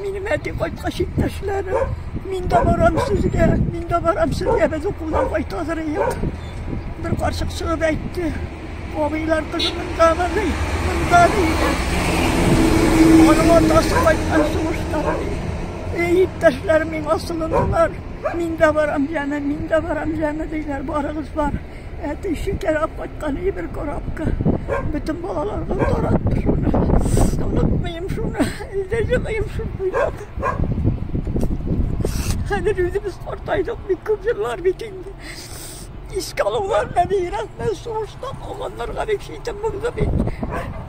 Минем әти кайткач, иптәшләрем, мин дә барам сезгә, мин дә барам сезгә, без укудан кайтадыр идек. Бер карчык чыгып әйтте, абыйлар кызы монда ди, монда ди. Аның атасы кайткан сугышта. Эй, иптәшләрем, мин асылындылар. Мин дә барам, җаны, мин дә барам, җаны, диләр, барыгыз бар. Әти шикәрләп кайткан иде бер корабка. Бөтен балаларга таратты шуны. Онытмыйм шуны. Илдә җыгыйм шуны буйлап. Хәзер үзебез картайдык, бик күп еллар бит инде. Искә алулар мәбигрәк, сугышта калганнарга бик шитем булды бит.